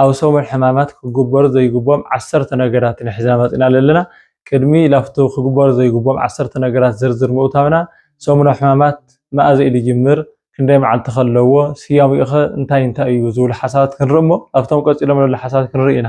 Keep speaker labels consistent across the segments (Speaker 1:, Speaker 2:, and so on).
Speaker 1: ኣብ ሰሙን ሕማማት ክግበሩ ዘይግብኦም ዓሰርተ ነገራት ኢና ሒዝና መጺእና ለለና። ቅድሚ ላፍቶ ክግበሩ ዘይግብኦም ዓሰርተ ነገራት ዝርዝር ምእታውና፣ ሰሙነ ሕማማት መኣዘ ኢዩ ዝጅምር፣ ክንደይ መዓልቲ ከ ኣለዎ፣ ስያሜኡ ከ እንታይ እንታይ ኢዩ ዝብሉ ሓሳባት ክንርኢ እሞ፣ ላፍቶም ቀጺሎም ለሎ ሓሳባት ክንርኢ ኢና።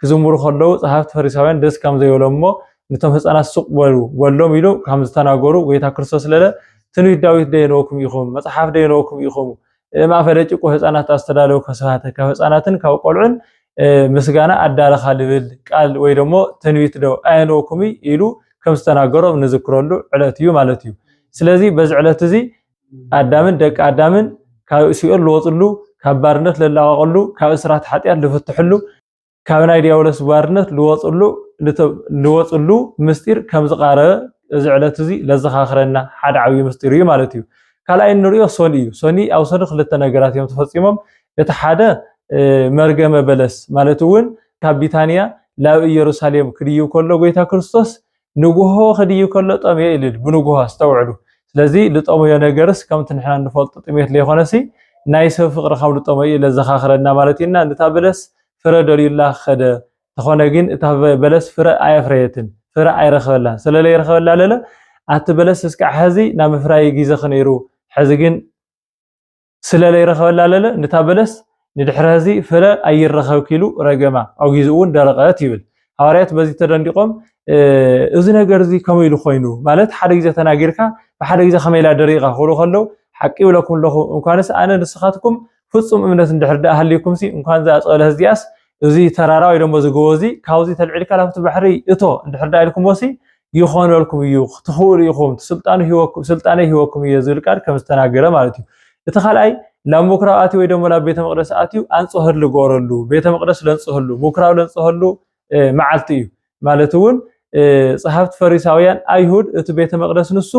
Speaker 1: ክዝምሩ ከለዉ ጸሓፍቲ ፈሪሳውያን ደስ ከም ዘይበሎም እሞ ንቶም ህጻናት ሱቅ በሉ በሎም ኢሉ ከም ዝተናገሩ ጎይታ ክርስቶስ ለለ ትንቢት ዳዊት ደየነወኩም ኢኹም መጽሓፍ ደየነወኩም ኢኹም ማእፈ ደቂቁ ህጻናት ኣስተዳለው ከስባተ ካብ ህጻናትን ካብ ቆልዑን ምስጋና ኣዳረኻ ልብል ቃል ወይ ደሞ ትንቢት ዶ ኣየነወኩም ኢሉ ከም ዝተናገሮም ንዝክረሉ ዕለት እዩ ማለት እዩ። ስለዚ በዚ ዕለት እዚ ኣዳምን ደቂ ኣዳምን ካብ ሲኦል ዝወፅሉ ካብ ባርነት ዝላቐቐሉ ካብ እስራት ሓጢኣት ዝፍትሕሉ ካብ ናይ ዲያብሎስ ባርነት ዝወፅሉ ዝወፅሉ ምስጢር ከም ዝቓረበ እዚ ዕለት እዚ ለዘኻኽረና ሓደ ዓብዪ ምስጢር እዩ ማለት እዩ። ካልኣይ እንሪኦ ሶኒ እዩ። ሶኒ ኣብ ሶኒ ክልተ ነገራት እዮም ተፈፂሞም። እቲ ሓደ መርገመ በለስ ማለት እውን ካብ ቢታንያ ናብ ኢየሩሳሌም ክድይብ ከሎ ጎይታ ክርስቶስ ንጉሆ ክድይብ ከሎ ጠምየ ኢሉ ኢሉ ብንጉሆ ኣስተውዕሉ ስለዚ ልጠመዮ ነገርስ ከምቲ ንሕና እንፈልጦ ጥሜት ለይኮነሲ ናይ ሰብ ፍቅሪ ካብ ልጠመዮ ኢለ ዘኻኽረና ማለት እዩ እና ንታ በለስ ፍረ ደልዩላ ከደ ተኾነ ግን እታ በለስ ፍረ ኣየፍረየትን ፍረ ኣይረኸበላን ሰለለይረኸበላ ለለ ኣቲ በለስ እስካዕ ሐዚ ናምፍራይ ጊዘ ክነይሩ ሐዚ ግን ስለ ለይረኸበላ ለለ ንታ በለስ ንድሕሪ ሀዚ ፍረ ኣይረኸብ ኪሉ ረገማ፣ ኣውጊዙ እውን ደረቐት ይብል። ሃዋርያት በዚ ተደንዲቖም እዚ ነገር እዚ ከመይ ኢሉ ኮይኑ ማለት ሓደ ግዜ ተናጊርካ ብሓደ ግዜ ከመይ ኢላ ደሪቓ ክብሉ ከለዉ ሓቂ ይብለኩም ኣለኹ እንኳንስ ኣነ ንስኻትኩም ፍጹም እምነት እንድሕር ደኣ ሃልዩኩምሲ እንኳን እዛ ጸበለህ እዚኣስ እዚ ተራራ ወይ ደሞ እዚ ጎቦ እዚ ካብዚ ተልዒልካ ናብቲ ባሕሪ እቶ እንድሕር ደኣ ኢልኩሞሲ ይኾነልኩም እዩ ትኽእሉ ኢኹም ስልጣኑ ሂወኩም ስልጣነይ ሂወኩም እየ ዝብል ቃል ከም ዝተናገረ ማለት እዩ እቲ ካልኣይ ናብ ምኩራብ ኣትዩ ወይ ደሞ ናብ ቤተ መቅደስ ኣትዩ ኣንጽህሉ ገበረሉ ቤተ መቅደስ ለንጽህሉ ምኩራብ ለንጽህሉ መዓልቲ እዩ ማለት እውን ጸሓፍቲ ፈሪሳውያን ኣይሁድ እቲ ቤተ መቅደስ ንሱ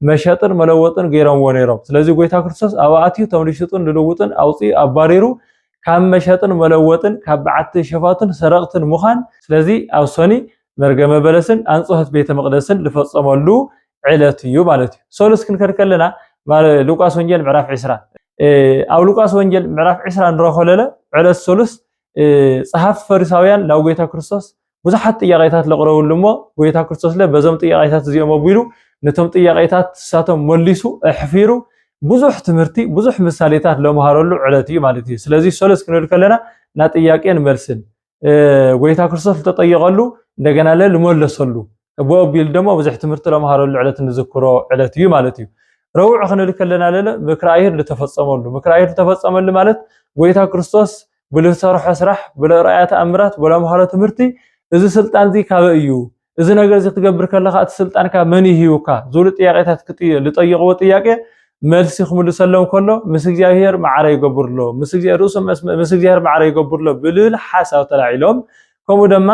Speaker 1: መሸጥን መለወጥን ገይሮምዎ ነይሮም። ስለዚ ጎይታ ክርስቶስ ኣብ ኣትዩ እቶም ዝሽጡን ዝልውጡን ኣውፂኡ ኣባሪሩ ካብ መሸጥን መለወጥን ካብ በዓቲ ሸፋቱን ሰረቕትን ምዃን ስለዚ ኣብ ሰኒ መርገመ በለስን ኣንጽሖት ቤተ መቅደስን ዝፈጸመሉ ዕለት እዩ ማለት እዩ። ሰሉስ ክንከድ ከለና ሉቃስ ወንጌል ምዕራፍ 20 ኣብ ሉቃስ ወንጌል ምዕራፍ 20 ንረኾለለ ዕለት ሰሉስ ጸሓፍቲ ፈሪሳውያን ናብ ጎይታ ክርስቶስ ብዙሓት ጥያቄታት ለቕረብሉ እሞ ጎይታ ክርስቶስ ለ በዞም ጥያቄታት እዚኦም ኣቢሉ ነቶም ጥያቄታት ንሳቶም መሊሱ ኣሕፊሩ ብዙሕ ትምህርቲ ብዙሕ ምሳሌታት ለምሃረሉ ዕለት እዩ ማለት እዩ። ስለዚ ሰለስ ክንብል ከለና ና ጥያቄን መልስን ጎይታ ክርስቶስ ዝተጠየቐሉ እንደገና ለ ልመለሰሉ እብኡ ኣቢሉ ደሞ ብዙሕ ትምህርቲ ለምሃረሉ ዕለት ንዝክሮ ዕለት እዩ ማለት እዩ። ረቡዕ ክንብል ከለና ለለ ምክረ ኣይሁድ ዝተፈጸመሉ ምክረ ኣይሁድ ዝተፈጸመሉ ማለት ጎይታ ክርስቶስ ብልሰርሖ ስራሕ ብለርኣያ ተኣምራት ብለምሃሮ ትምህርቲ እዚ ስልጣን እዚ ካበይ እዩ እዚ ነገር እዚ ክትገብር ከለካ እቲ ስልጣን ካብ መን ይህዩካ ዝብሉ ጥያቄታት ዝጠየቅዎ ጥያቄ መልሲ ክምልሰሎም ከሎ ምስ እግዚኣብሄር ማዕረ ይገብርሎ ምስ እግዚኣብሄር ርእሱ ምስ እግዚኣብሄር ማዕረ ይገብርሎ ብልብል ሓሳብ ተላዒሎም ከምኡ ድማ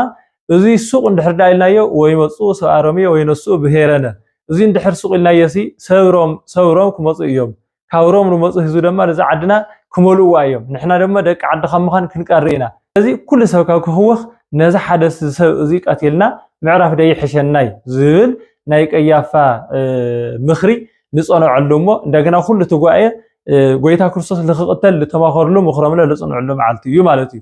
Speaker 1: እዙይ ሱቕ እንድሕር ደኣ ኢልናዮ ወይ መፁ ሰብኣ ሮሜ ወይ ነሱኡ ብሄረነ እዙይ እንድሕር ሱቕ ኢልናዮሲ ሰብ ሮም ሰብ ሮም ክመፁ እዮም ካብ ሮም ልመፁ ህዝቢ ደማ ነዛ ዓድና ክመልእዋ እዮም ንሕና ደማ ደቂ ዓዲ ካብ ምዃን ክንቀሪ ኢና ስለዚ ኩሉ ሰብ ካብ ክህወኽ ነዚ ሓደ ሰብ እዙይ ቀቲልና ምዕራፍ ዶ ይሕሸና እዩ ዝብል ናይ ቀያፋ ምኽሪ ንፀነዐሉ እሞ እንደገና ኩሉ እቲ ጉባኤ ጎይታ ክርስቶስ ልክቕተል ልተማኸርሉ ምኽሮምለ ልፅንዕሉ መዓልቲ እዩ ማለት እዩ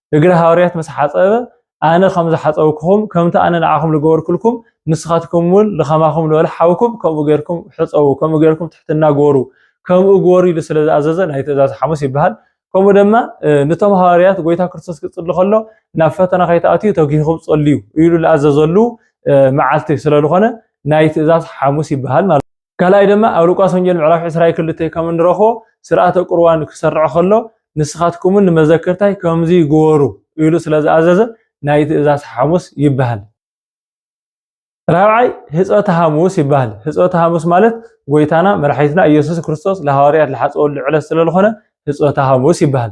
Speaker 1: እግሪ ሃዋርያት ምስ ሓጸበ ኣነ ከም ዝሓጸብኩኹም ከምቲ ኣነ ንዓኹም ዝገበርኩልኩም ንስኻትኩም እውን ንከማኹም ንበለ ሓውኩም ከምኡ ጌርኩም ሕጸቡ ከምኡ ጌርኩም ትሕትና ግበሩ ከምኡ ግበሩ ኢሉ ስለ ዝኣዘዘ ናይ ትእዛዝ ሓሙስ ይበሃል ከምኡ ድማ ንቶም ሃዋርያት ጎይታ ክርስቶስ ክጽሊ ከሎ ናብ ፈተና ከይትኣትዩ ተጊህኹም ጸልዩ ኢሉ ዝኣዘዘሉ መዓልቲ ስለ ዝኾነ ናይ ትእዛዝ ሓሙስ ይበሃል ማለት ካልኣይ ድማ ኣብ ሉቃስ ወንጌል ምዕራፍ ዕስራይ ክልተይ ከም እንረኽቦ ስርዓተ ቁርባን ክሰርዕ ከሎ ንስኻትኩምን ንመዘክርታይ ከምዚ ግበሩ ኢሉ ስለ ዝኣዘዘ ናይ ትእዛዝ ሓሙስ ይበሃል። ራብዓይ ህፀተ ሃሙስ ይበሃል ህፀተ ሃሙስ ማለት ጎይታና መድሓኒትና እየሱስ ክርስቶስ ልሃዋርያት ልሓፀወሉ ዕለት ስለልኾነ ህፀተ ሃሙስ ይበሃል።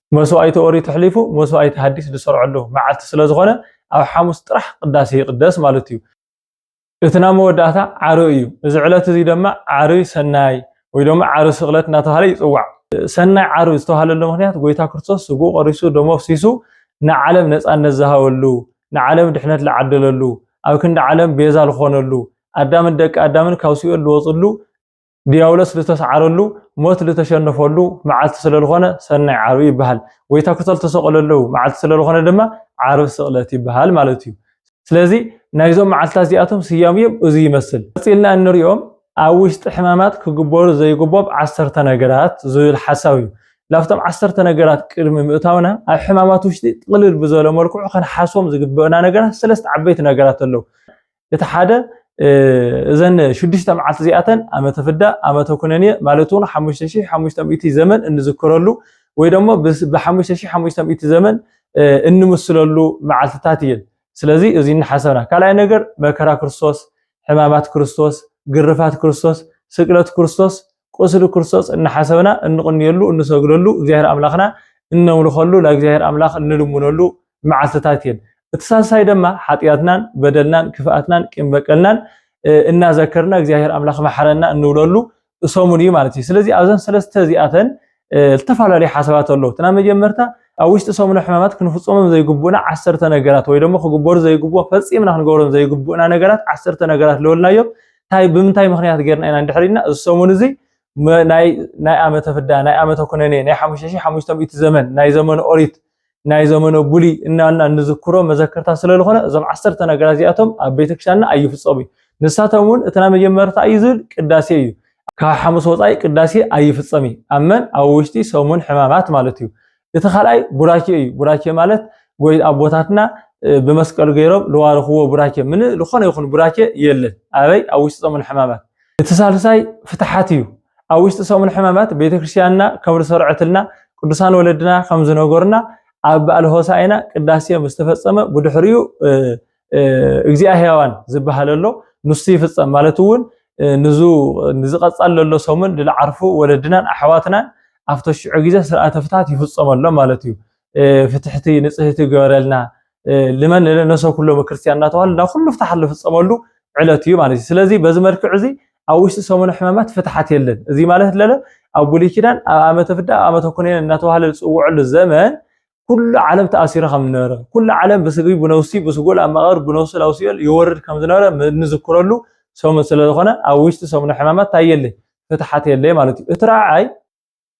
Speaker 1: መስዋኢቲ ኦሪት ኣሕሊፉ መስዋኢቲ ሃዲስ ዝሰርዐሉ መዓልቲ ስለ ዝኮነ ኣብ ሓሙስ ጥራሕ ቅዳሴ ይቅደስ ማለት እዩ። እቲ ናብ መወዳእታ ዓርይ እዩ። እዚ ዕለት እዚ ደማ ዓርይ ሰናይ ወይ ደማ ዓርይ ስቅለት እናተባህለ ይጽዋዕ። ሰናይ ዓርብ ዝተባህለሉ ምክንያት ጎይታ ክርስቶስ ስግኡ ቆሪሱ ደሙ ኣፍሲሱ ንዓለም ነጻነት ዝሃበሉ ንዓለም ድሕነት ዝዓደለሉ ኣብ ክንዲ ዓለም ቤዛ ዝኾነሉ ኣዳምን ደቂ ኣዳምን ካብ ሲኦል ዝወጽሉ ድያብሎስ ልተስዓረሉ ሞት ልተሸነፈሉ መዓልቲ ስለልኾነ ሰናይ ዓርቢ ይበሃል። ጎይታ ክቶ ልተሰቐለሉ መዓልቲ ስለልኾነ ድማ ዓርቢ ስቕለት ይበሃል ማለት እዩ። ስለዚ ናይዞም መዓልትታት እዚኣቶም ስያሜኦም እዙይ ይመስል። ቀጺልና እንሪኦም ኣብ ውሽጢ ሕማማት ክግበሩ ዘይግቦም ዓሰርተ ነገራት ዝብል ሓሳብ እዩ። ላብቶም ዓሰርተ ነገራት ቅድሚ ምእታውና ኣብ ሕማማት ውሽጢ ጥቕልል ብዘለ መልክዑ ከነሓስቦም ዝግበእና ነገራት ሰለስተ ዓበይቲ ነገራት ኣለው። እቲ ሓደ እዘን ሽዱሽተ መዓልቲ እዚኣተን ኣመተ ፍዳ ኣመተ ኩነኔ ማለት እውን ሓሙሽተ ሽሕ ሓሙሽተ ሚእቲ ዘመን እንዝክረሉ ወይ ደሞ ብሓሙሽተ ሽሕ ሓሙሽተ ሚእቲ ዘመን እንምስለሉ መዓልትታት እየን ስለዚ እዚ እናሓሰብና ካልኣይ ነገር መከራ ክርስቶስ ሕማማት ክርስቶስ ግርፋት ክርስቶስ ስቅለት ክርስቶስ ቁስሊ ክርስቶስ እናሓሰብና እንቕንየሉ፣ እንሰግደሉ፣ እግዚኣብሔር ኣምላኽና እነምልኸሉ፣ ናብ እግዚኣብሔር ኣምላኽ እንልምነሉ መዓልትታት እየን። እቲ ሳልሳይ ደማ ሓጢኣትናን፣ በደልናን፣ ክፍኣትናን፣ ቂም በቀልናን እናዘከርና እግዚኣብሔር ኣምላኽ መሓረና እንብለሉ ሰሙን እዩ ማለት እዩ። ስለዚ ኣብዘን ሰለስተ እዚኣተን ዝተፈላለዩ ሓሳባት ኣለዉ እቲ ናይ መጀመርታ ኣብ ውሽጢ ሰሙነ ሕማማት ክንፍፀሞም ዘይግቡእና ዓሰርተ ነገራት ወይ ደሞ ክግበሩ ዘይግብኦ ፈፂምና ክንገብሮም ዘይግቡእና ነገራት ዓሰርተ ነገራት ለወልናዮም እንታይ ብምንታይ ምክንያት ጌርና ኢና እንድሕሪልና እዚ ሰሙን እዚ ናይ ኣመተ ፍዳ ናይ ኣመተ ኩነኔ ናይ ሓሙሽተ ሺሕ ሓሙሽተ ሚእቲ ዘመን ናይ ዘመነ ኦሪት ናይ ዘመነ ቡሊ እናና እንዝክሮ መዘከርታ ስለዝኾነ እዞም ዓሰርተ ነገራት እዚኣቶም ኣብ ቤተክርስትያንና ኣይፍፀሙ እዩ። ንሳቶም እውን እቲ ናይ መጀመርታ እዩ ዝብል ቅዳሴ እዩ። ካብ ሓሙስ ወፃኢ ቅዳሴ ኣይፍፀም እዩ። ኣብ መን ኣብ ውሽጢ ሰሙን ሕማማት ማለት እዩ። እቲ ካልኣይ ቡራኬ እዩ። ቡራኬ ማለት ጎይ ኣቦታትና ብመስቀል ገይሮም ዝባረኽዎ ቡራኬ ምን ዝኾነ ይኹን ቡራኬ የለን። ኣበይ ኣብ ውሽጢ ሰሙን ሕማማት። እቲ ሳልሳይ ፍትሓት እዩ። ኣብ ውሽጢ ሰሙን ሕማማት ቤተክርስቲያንና ከም ዝሰርዐትልና ቅዱሳን ወለድና ከም ዝነገሩና ኣብ በዓል ሆሳዕና ቅዳሴ ምስ ተፈጸመ ብድሕሪኡ እግዚኣብ ሕያዋን ዝበሃል ኣሎ ንሱ ይፍጸም ማለት እውን ንዙ ንዝቐጻል ዘሎ ሰሙን ዝዓርፉ ወለድናን ኣሕዋትናን ኣብቲ ሽዑ ግዜ ስርዓተ ፍትሓት ይፍጸመሎም ማለት እዩ። ፍትሕቲ ንጽህቲ ግበረልና ልመን ንነሰ ኩሎም ክርስትያን እናተባህሉ ናብ ኩሉ ፍትሓት ዝፍፀመሉ ዕለት እዩ ማለት እዩ ስለዚ በዚ መልክዕ እዚ ኣብ ውሽጢ ሰሙነ ሕማማት ፍትሓት የለን እዚ ማለት ለለ ኣብ ብሉይ ኪዳን ኣብ ዓመተ ፍዳ ኣብ ዓመተ ኩነኔ እናተባህለ ዝፅውዐሉ ዘመን ኩሉ ዓለም ተኣሲሩ ከም ዝነበረ ኩሉ ዓለም ብስግሪ ብነውሲ ብስጉል ኣብ መቓብር ብነውሲ ናብ ሲኦል ይወርድ ከም ዝነበረ እንዝክረሉ ሰሙን ስለዝኾነ ኣብ ውሽጢ ሰሙነ ሕማማት እንታይ የለ ፍትሓት የለ ማለት እዩ እቲ ረዓይ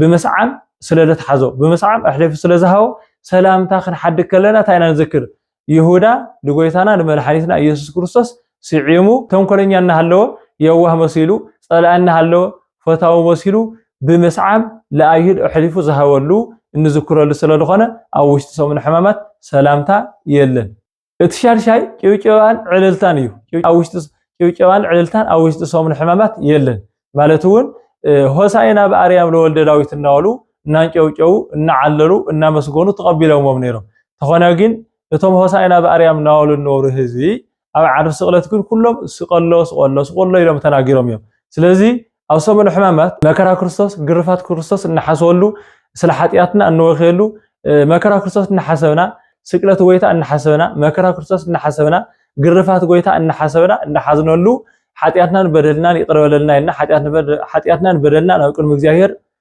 Speaker 1: ብምስዓም ስለ ዘትሓዞ ብምስዓም ኣሕሊፉ ስለ ዝሃቦ ሰላምታ ክንሓድግ ከለና እንታይ ኢና ንዝክር? ይሁዳ ንጎይታና ንመድሓኒትና ኢየሱስ ክርስቶስ ስዒሙ ተንኮለኛ እናሃለወ የዋህ መሲሉ ጸላኢ እናሃለወ ፈታዊ መሲሉ ብምስዓም ለኣይሁድ ኣሕሊፉ ዝሃበሉ እንዝክረሉ ስለ ዝኾነ ኣብ ውሽጢ ሰሙነ ሕማማት ሰላምታ የለን። እቲ ሻድሻይ ጭብጨባን ዕልልታን እዩ። ኣብ ውሽጢ ጭብጨባን ዕልልታን ኣብ ውሽጢ ሰሙን ሕማማት የለን ማለት እውን ሆሳይና ብኣርያም ለወልደ ዳዊት እናበሉ እናንጨብጨቡ እናዓለሉ እናመስገኑ ተቐቢሎሞም ነይሮም። ተኾነ ግን እቶም ሆሳይና ብኣርያም እናበሉ እነበሩ ህዝቢ ኣብ ዓርቢ ስቕለት ግን ኩሎም ስቀሎ ስቀሎ ስቀሎ ኢሎም ተናጊሮም እዮም። ስለዚ ኣብ ሰሙነ ሕማማት መከራ ክርስቶስ ግርፋት ክርስቶስ እንሓስበሉ ስለ ሓጢኣትና እንወክየሉ መከራ ክርስቶስ እናሓሰብና ስቅለት ጎይታ እናሓሰብና መከራ ክርስቶስ እናሓሰብና ግርፋት ጎይታ እናሓሰብና እናሓዝነሉ ሓጢኣትናን በደልናን ይቅረ በለልና ኢልና ሓጢኣትናን በደልና ናብ ቅድሚ እግዚኣብሔር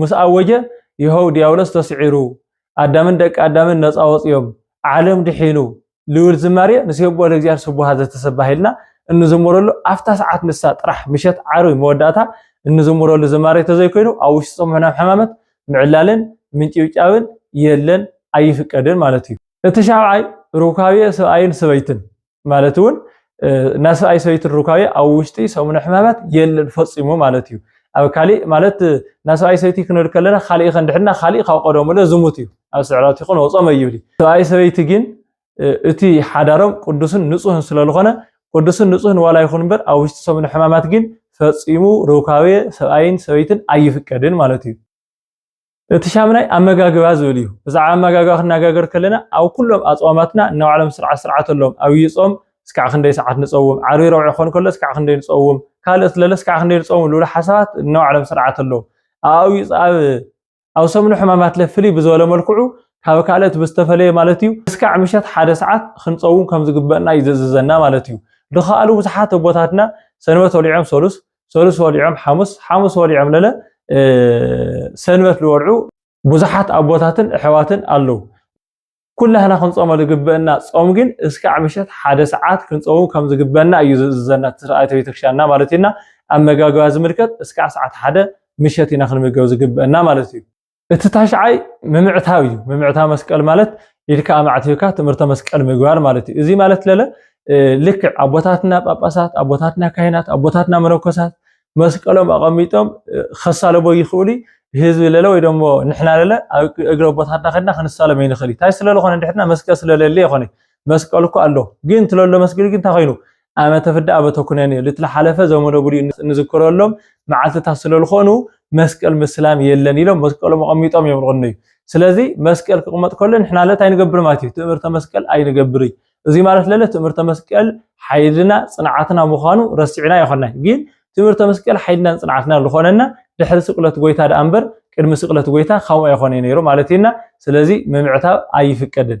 Speaker 1: ምስ ኣወጀ ይሀው ዲያብሎስ ተስዒሩ ኣዳምን ደቂ ኣዳምን ነፃ ወፅዮም ዓለም ድሒኑ ልብል ዝማሬ ንሴብሖ ለእግዚኣብሔር ስቡሃ ዘተሰባህ ኢልና እንዝምረሉ ኣብታ ሰዓት ንሳ ጥራሕ ምሸት ዓርቢ መወዳእታ እንዝምረሉ ዝማሬ ተዘይኮይኑ ኣብ ውሽጢ ፆም ሕናም ሕማመት ምዕላልን ምንጭብጫብን የለን ኣይፍቀድን ማለት እዩ። እቲ ሻብዓይ ሩካቤ ሰብኣይን ሰበይትን ማለት እውን ናይ ሰብኣይ ሰበይቲ ሩካቤ ኣብ ውሽጢ ሰሙነ ሕማማት የለን ፈፂሙ ማለት እዩ ኣብ ካሊእ ማለት ናይ ሰብኣይ ሰበይቲ ክንብል ከለና ካሊእ ከ እንድሕድና ካሊእ ካብ ቀደሙ ለ ዝሙት እዩ ኣብ ስዕረት ይኹን ወፆ መይብል ሰብኣይ ሰበይቲ ግን እቲ ሓዳሮም ቅዱስን ንፁህን ስለዝኾነ ቅዱስን ንፁህን ዋላ ይኹን እምበር ኣብ ውሽጢ ሰሙነ ሕማማት ግን ፈፂሙ ሩካቤ ሰብኣይን ሰበይትን ኣይፍቀድን ማለት እዩ እቲ ሻምናይ ኣመጋግባ ዝብል እዩ። ብዛዕባ ኣመጋግባ ክንነጋገር ከለና ኣብ ኩሎም ኣጽዋማትና ናይ ባዕሎም ስርዓት ስርዓት ኣለዎም። ኣብይ ጾም እስካዕ ክንደይ ሰዓት ንጸውም፣ ዓርቢ ረቡዕ ክኾን ከሎ እስካዕ ክንደይ ንጸውም፣ ካልእስ ለለ እስካዕ ክንደይ ንጸውም ዝብሉ ሓሳባት ናይ ባዕሎም ስርዓት ኣለዎም። ኣብ ኣብ ኣብ ሰሙነ ሕማማትለ ፍልይ ብዝበለ መልክዑ ካብ ካልእት ብዝተፈለየ ማለት እዩ እስካዕ ምሸት ሓደ ሰዓት ክንጸውም ከም ዝግበእና እዩ ዘእዝዘና ማለት እዩ። ድኻሉ ብዙሓት ኣቦታትና ሰንበት ወሊዖም ሰሉስ ሰሉስ ወሊዖም ሓሙስ ሓሙስ ወሊዖም ለለ ሰንበት ዝወልዑ ብዙሓት ኣቦታትን ኣሕዋትን ኣለው። ኩላህና ክንጾመ ዝግበእና ጾም ግን እስካዕ ምሸት ሓደ ሰዓት ክንጾም ከም ዝግበና እዩ ዝእዝዘና ስርዓተ ቤተክርስትያንና ማለት እዩና ኣመጋግባ ዝምልከት እስካዕ ሰዓት ሓደ ምሸት ኢና ክንምገብ ዝግበእና ማለት እዩ እቲ ታሽዓይ ምምዕታው እዩ። ምምዕታው መስቀል ማለት ኢድካ ኣማዕቲብካ ትምህርተ መስቀል ምግባር ማለት እዩ። እዚ ማለት ለለ ልክዕ ኣቦታትና ጳጳሳት፣ ኣቦታትና ካህናት፣ ኣቦታትና መነኮሳት መስቀሎም ኣቐሚጦም ከሳለቦ ይኽእሉ ህዝቢ ለለ ወይ ደሞ ንሕና ለለ ኣብ እግሪ ኣቦታትና ከድና ክንሳለም ኣይንኽእል። እንታይ ስለለኾነ ንድሕርና መስቀል ስለለለ ይኾነ መስቀል እኮ ኣሎ ግን ትለሎ መስቀል ግን እንታይ ኮይኑ ኣመተ ፍዳ ኣበተ ኩነኔ ልትለሓለፈ ዘመነ ብሉይ እንዝክረሎም መዓልትታት ስለልኾኑ መስቀል ምስላም የለን ኢሎም መስቀሎም ኣቐሚጦም እዮም ልቕነዩ። ስለዚ መስቀል ክቕመጥ ከሎ ንሕና ለት ኣይንገብር ማለት እዩ ትእምርተ መስቀል ኣይንገብር እዩ። እዚ ማለት ለለ ትእምርተ መስቀል ሓይልና ጽንዓትና ምዃኑ ረሲዕና ይኾናይ ግን ትእምርተ መስቀል ሓይልናን ጽንዓትና ዝኾነና ድሕሪ ስቅለት ጎይታ ደኣ እምበር ቅድሚ ስቅለት ጎይታ ከምኡ ኣይኾነ ነይሩ ማለት እዩና ስለዚ ምምዕታብ ኣይፍቀድን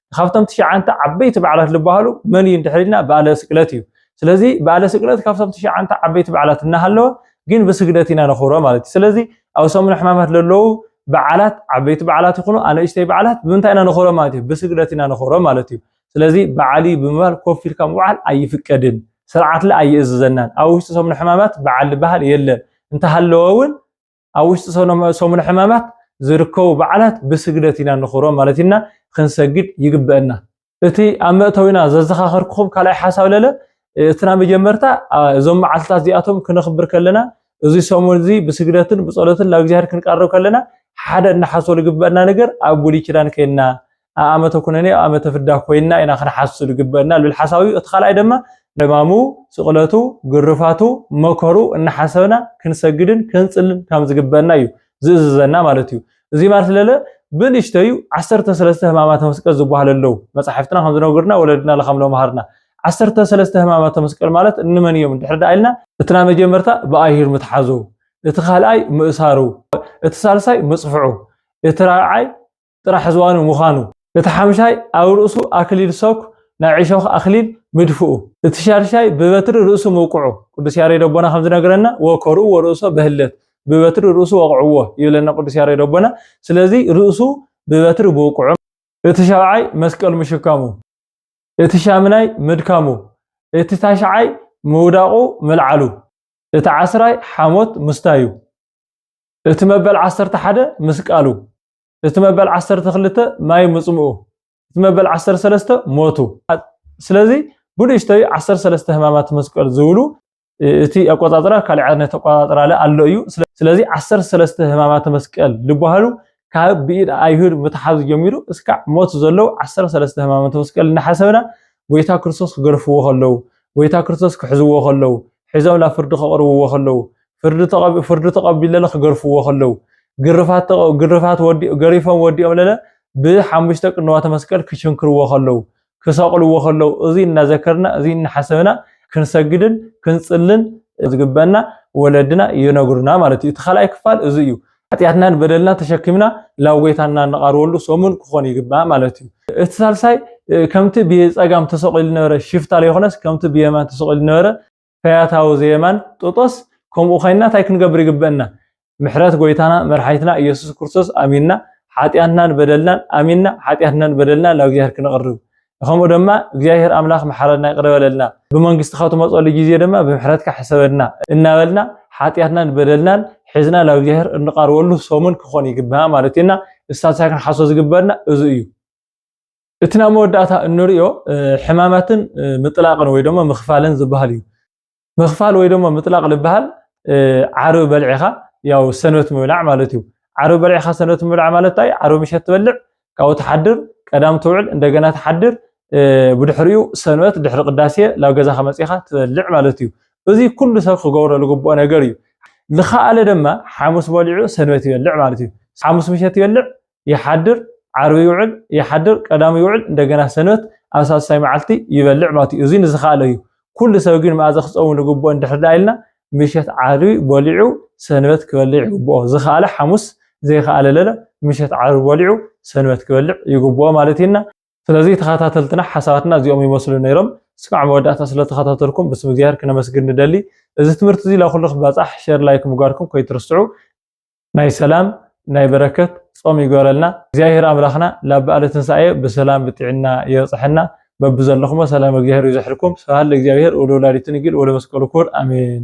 Speaker 1: ካብቶም ትሽዓንተ ዓበይቲ በዓላት ዝበሃሉ መን እዩ እንድሕር ኢልና በዓለ ስቅለት እዩ። ስለዚ በዓለ ስቅለት ካብቶም ትሽዓንተ ዓበይቲ በዓላት እናሃለወ ግን ብስግደት ኢና ነኽብሮ ማለት እዩ። ስለዚ ኣብ ሰሙነ ሕማማት ዘለዉ በዓላት ዓበይቲ በዓላት ይኹኑ ኣነእሽተይ በዓላት ብምንታይ ኢና ነኽብሮ ማለት እዩ? ብስግደት ኢና ነኽብሮ ማለት እዩ። ስለዚ በዓል እዩ ብምባል ኮፍ ኢልካ ምውዓል ኣይፍቀድን፣ ስርዓትለ ኣይእዝዘናን። ኣብ ውሽጢ ሰሙነ ሕማማት በዓል ዝበሃል የለን፣ እንተሃለወ እውን ኣብ ውሽጢ ሰሙነ ሕማማት ዝርከቡ በዓላት ብስግደት ኢና ንኽብሮም ማለት ኢና ክንሰግድ ይግበአና እቲ ኣብ መእተዊና ዘዘኻኸርክኹም ካልኣይ ሓሳብ ለለ እቲ ናይ መጀመርታ እዞም መዓልትታት እዚኣቶም ክነኽብር ከለና እዚ ሰሙን እዚ ብስግደትን ብጸሎትን ናብ እግዚኣብሔር ክንቀርብ ከለና ሓደ እናሓስበሉ ግበአና ነገር ኣብ ብሉይ ኪዳን ከይንና ኣብ ኣመተ ኩነኔ ኣብ ኣመተ ፍዳ ኮይንና ኢና ክንሓሱ ዝግበአና ልብል ሓሳብ እዩ እቲ ካልኣይ ድማ ሕማሙ ስቕለቱ ግርፋቱ መከሩ እናሓሰብና ክንሰግድን ክንጽልን ከም ዝግበአና እዩ ዝእዝዘና ማለት እዩ እዚ ማለት ለለ ብንእሽተዩ ዓሰርተ ሰለስተ ህማማተ መስቀል ዝበሃሉ ኣለዉ መጻሕፍትና ከም ዝነግርና ወለድና ለካም ለምሃርና ዓሰርተ ሰለስተ ህማማተ መስቀል ማለት እንመን እዮም ድሕሪ ደኣ ኢልና እቲ ናይ መጀመርታ ብኣይሁድ ምትሓዙ እቲ ካልኣይ ምእሳሩ እቲ ሳልሳይ ምጽፍዑ እቲ ራብዓይ ጥራሕ ዝዋኑ ምዃኑ። እቲ ሓምሻይ ኣብ ርእሱ ኣክሊል ሰኩ ናይ ዕሾኽ ኣክሊል ምድፍኡ። እቲ ሻድሻይ ብበትሪ ርእሱ ምውቅዑ። ቅዱስ ያሬድ ኣቦና ከም ዝነግረና ወከርኡዎ ርእሶ በህለት ብበትሪ ርእሱ ወቕዕዎ ይብለና ቅዱስ ያሬድ ኣቦና ስለዚ ርእሱ ብበትሪ ምውቅዑ። እቲ ሻብዓይ መስቀል ምሽካሙ። እቲ ሻምናይ ምድካሙ። እቲ ታሽዓይ ምውዳቑ ምልዓሉ። እቲ ዓስራይ ሓሞት ምስታዩ። እቲ መበል ዓሰርተ ሓደ ምስቃሉ። እቲ መበል ዓሰርተ ክልተ ማይ ምጽምኡ እቲ መበል ዓሰርተ ሰለስተ ሞቱ ስለዚ ብንእሽተዩ ዓሰርተ ሰለስተ ህማማት መስቀል ዝብሉ እቲ ኣቆጻጽራ ካልእ ዓይነት ኣቆጻጽራ ለ ኣሎ እዩ ስለዚ ዓሰርተ ሰለስተ ህማማተ መስቀል ዝበሃሉ ካብ ብኢድ ኣይሁድ ምትሓዙ ጀሚሩ እስካዕ ሞት ዘለዉ ዓሰርተ ሰለስተ ህማማተ መስቀል እናሓሰብና ጎይታ ክርስቶስ ክገርፍዎ ከለዉ ጎይታ ክርስቶስ ክሕዝዎ ከለዉ ሒዞም ናብ ፍርዲ ከቕርብዎ ከለዉ ፍርዲ ተቐቢለለ ክገርፍዎ ከለው ግርፋት ገሪፎም ወዲኦምለለ ብሓሙሽተ ቅንዋተ መስቀል ክችንክርዎ ከለው ክሰቕልዎ ከለው እዙይ እናዘከርና እዙይ እናሓሰብና ክንሰግድን ክንፅልን ዝግበና ወለድና ይነግሩና ማለት እዩ። እቲ ካልኣይ ክፋል እዙይ እዩ። ሓጢኣትናን በደልና ተሸኪምና ላብ ጎይታና እንቓርበሉ ሰሙን ክኾን ይግባእ ማለት እዩ። እቲ ሳልሳይ ከምቲ ብጸጋም ተሰቂሉ ነበረ ሽፍታ ዘይኮነስ ከምቲ ብየማን ተሰቂሉ ነበረ ፈያታዊ ዘየማን ጥጦስ ከምኡ ኸይንና ታይ ክንገብር ይግበእና ምሕረት ጎይታና መርሓይትና እየሱስ ክርስቶስ ኣሚንና ሓጥያትናን በደልናን ኣሚንና ሓጥያትናን በደልና ናብ እግዚኣብሔር ክንቕርብ ከምኡ ደማ እግዚኣብሔር ኣምላኽ መሓረና ይቕረ በለልና ብመንግስትኻ ትመጸሉ ጊዜ ደማ ብምሕረትካ ሕሰበና እናበልና ሓጥያትናን በደልናን ሒዝና ናብ እግዚኣብሔር እንቓርበሉ ሰሙን ክኾን ይግባእ ማለት እዩና እሳት ክንሓሶ ዝግበርና እዙ እዩ እቲ ናብ መወዳእታ እንሪኦ ሕማማትን ምጥላቕን ወይ ደሞ ምኽፋልን ዝበሃል እዩ። ምኽፋል ወይ ደሞ ምጥላቕ ልበሃል ዓርቢ በልዒኻ ያው ሰንበት ምብላዕ ማለት እዩ። ዓርቢ በልዒኻ ሰንበት ምብላዕ ማለት እንታይ? ዓርቢ ምሸት ትበልዕ፣ ካብኡ ትሓድር፣ ቀዳም ትውዕል፣ እንደገና ትሓድር፣ ብድሕሪኡ ሰንበት ድሕሪ ቅዳሴ ናብ ገዛኻ መጺኻ ትበልዕ ማለት እዩ። እዚ ኩሉ ሰብ ክገብሮ ዝግብኦ ነገር እዩ። ዝኸኣለ ደማ ሓሙስ በሊዑ ሰንበት ይበልዕ ማለት እዩ። ሓሙስ ምሸት ይበልዕ፣ ይሓድር ዓርቢ ይውዕል ይሓድር ቀዳም ይውዕል እንደገና ሰንበት ኣብ ሳልሳይ መዓልቲ ይበልዕ ማለት እዩ እዚ ንዝኸኣለ እዩ ኩሉ ሰብ ግን መኣዘ ክፀውም ንግብኦ እንድሕር ዳ ኢልና ምሸት ዓርቢ በሊዑ ሰንበት ክበልዕ ይግብኦ ዝኸኣለ ሓሙስ ዘይኸኣለ ለለ ምሸት ዓርቢ በሊዑ ሰንበት ክበልዕ ይግብኦ ማለት ኢና ስለዚ ተኸታተልትና ሓሳባትና እዚኦም ይመስሉ ነይሮም እስካዕ መወዳእታ ስለተኸታተልኩም ብስም እግዚኣብሔር ክነመስግን ንደሊ እዚ ትምህርቲ እዚ ላኩሉ ክባፃሕ ሸር ላይክ ምግባርኩም ከይትርስዑ ናይ ሰላም ናይ በረከት ጾም ይግበረልና እግዚኣብሔር ኣምላክና ላብ በኣለ ትንሳኤ ብሰላም ብጥዕና የብጽሐና በብዘለኩሞ ሰላም እግዚኣብሔር ይብዘሕልኩም ስብሃት ለእግዚኣብሔር ወለወላዲቱ ንግል ወለመስቀሉ ክቡር ኣሜን።